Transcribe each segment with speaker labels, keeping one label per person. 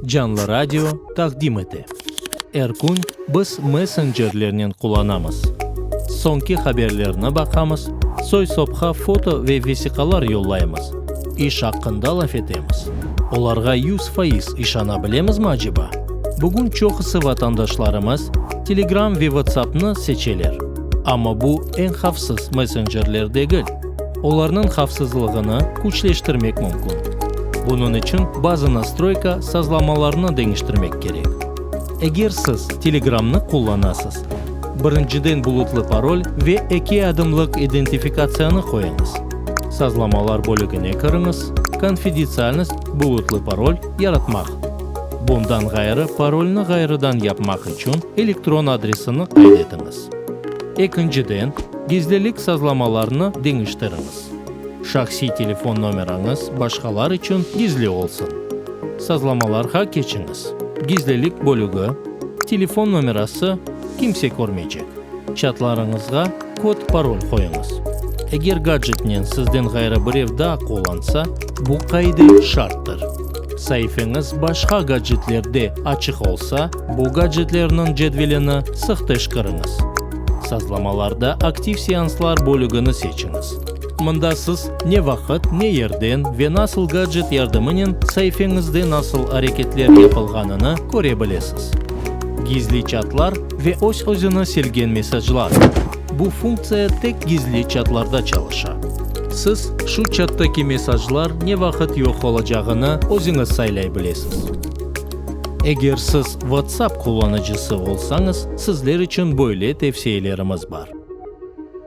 Speaker 1: Canlı Radio taqdim ete. Er kün biz messencerlernen qulanamız. Soñki haberlerni baqamız, soy-sopqa foto ve vesiqalar yollaymız, iş aqqında laf etemiz. Olarğa yüz faiz işana bilemizmi aceba? Bugün çoqusı vatandaşlarımız Telegram ve WhatsAppnı seçeler, amma bu eñ havfsız messencerler degil. olarnıñ havfsızlığını küçleştirmek mümkün. Bunıñ içün bazı nastroyka sazlamalarnı deñiştirmek kerek. Eger siz Telegramnı qullanasız, birinciden bulutlı parol ve eki adımlıq identifikatsiyanı qoyañız. Sazlamalar bölügine kiriñiz, Konfidetsialnost, bulutlı parol, yaratmaq. Bundan ğayrı, parolni ğayrıdan yapmaq içün elektron adresini qayd etiñiz. Ekinciden, gizlilik sazlamalarını deñiştiriñiz. Şahsiy telefon nomerañız başqalar içün gizli olsun. Sazlamalarğa keçiñiz, Gizlilik bölügi, Telefon nomerası, Kimse körmeycek. Çatlarıñızğa kod-parol qoyuñız. Eger gadjetnen sizden ğayrı birev daa qullansa, bu qaide şarttır. Saifeñiz başqa gadjetlerde açıq olsa, Bu gadjetlerniñ cedvelini sıhteş kiriñiz. Sazlamalarda Aktiv seanslar bölügini seçiñiz. Mında siz ne vaqıt, ne yerden ve nasıl gadjet yardımınen saifeñizde nasıl areketler yapılğanını köre bilesiz. Gizli çatlar ve öz-özüni silgen mesajlar, Bu funktsiya tek gizli çatlarda çalışa. Siz şu çatdaki mesajlar ne vaqıt yoq olacağını özüñiz saylay bilesiz. Eger siz WhatsApp qullanıcısı olsañız, sizler içün böyle tevsiyelerimiz bar.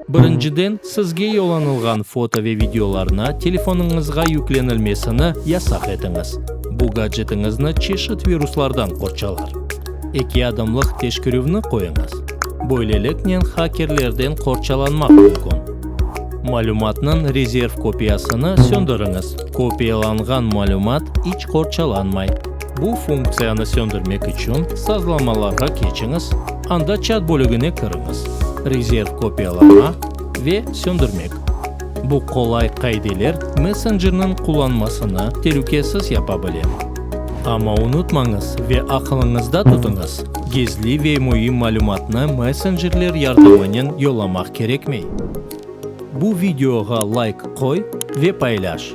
Speaker 1: Birinciden, sizge yollanılğan foto ve videolarnı telefonıñızğa yüklenilmesini yasaq etiñiz, bu gadjetiñizni çeşit viruslardan qorçalar. Eki adımlıq teşkerüvni qoyuñız, böyleliknen hakerlerden qorçalanmaq mümkün. Malümatnıñ rezerv kopiyasını söndiriñiz. Kopiyalanğan malümat iç qorçalanmay. Bu funktsiyanı söndürmek içün sazlamalarğa keçiñiz, anda Çat bölügine kiriñiz, Rezerv kopiyalama ve Söndürmek. Bu qolay qaideler messencerniñ qullanmasını telükesiz yapa bile. Amma unutmañız ve aqılıñızda tutıñız, gizli ve müim malümatnı messencerler yardımınen yollamaq kerekmey. Bu videoğa layk qoy ve paylaş.